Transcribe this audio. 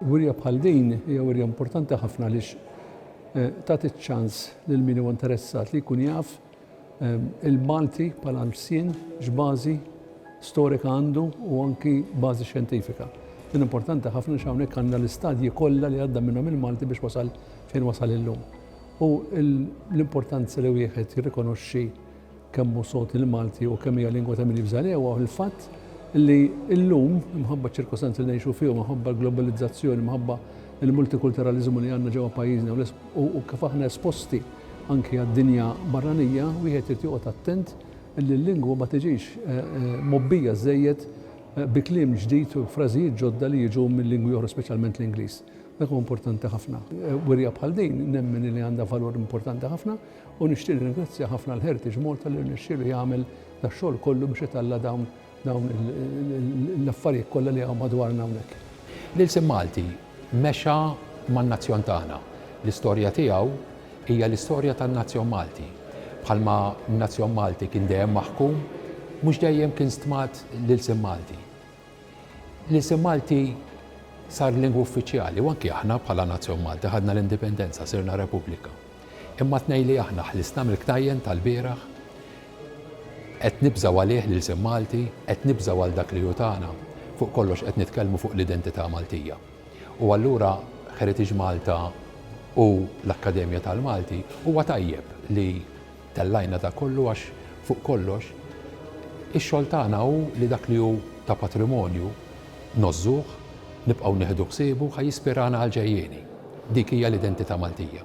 Wirja bħal din hija wirja importanti ħafna għaliex eh, tagħti ċ-ċans lil min huwa interessat li jkun jaf il-Malti bħala lsien x'bażi storika għandu u anki bażi xjentifika. Din importanti ħafna xi hawnhekk għandna l-istadji kollha li għadda minnhom il-Malti biex wasal fejn wasal illum. U l-importanza li wieħed jirrikonoxxi kemm hu sod il-Malti u kemm hija lingwa ta' min jibża' lewha il-fatt li llum imħabba ċirkostanzi li ngħixu fihom, imħabba l-globalizzazzjoni, imħabba il-multikulturalizmu li għandna ġewwa pajjiżna u kif aħna esposti Anki għad-dinja barranija wieħed irid joqgħod attent li l-lingwa ma tiġix mgħobbija żżejjed bi kliem ġdid u frażijiet ġodda li jiġu minn lingwi oħra speċjalment l-Ingliż. Dak huwa importanti ħafna. Wirja bħal din nemmen li għandha valur importanti ħafna u nixtieq nirringrazzja ħafna l-Heritage Malta li rnexxielu jagħmel dax-xogħol kollu biex italla' dawn Dawn l-affarijiet kollha li hawn madwarna hawnhekk. L-ilsien Malti mexa man-nazzjon tagħna. L-istorja tiegħu hija l-istorja tan-nazzjon Malti. Bħalma n-nazzjon Malti kien dejjem maħkum, mhux dejjem kien stmat l-ilsien Malti. L-ilsien Malti sar lingwa uffiċjali u anki aħna bħala nazzjon Malti ħadna l-indipendenza, sirna repubblika. Imma t-tnejn li aħna ħlisna mill-ktajjen tal-bieraħ, qed nibżgħu għalih l-ilsien Malti, qed nibżgħu għal dak li hu tagħna, fuq kollox qed nitkellmu fuq l-identità Maltija. U allura Heritage Malta u l-Akkademja tal-Malti huwa tajjeb li, Tellajna dak kollu għax, fuq kollox, ix-xogħol tagħna hu li dak li hu ta' patrimonju ngħożżuh, nibqgħu nieħdu ħsiebu, ħa jispirana għall-ġejjieni. Dik hija l-identità Maltija.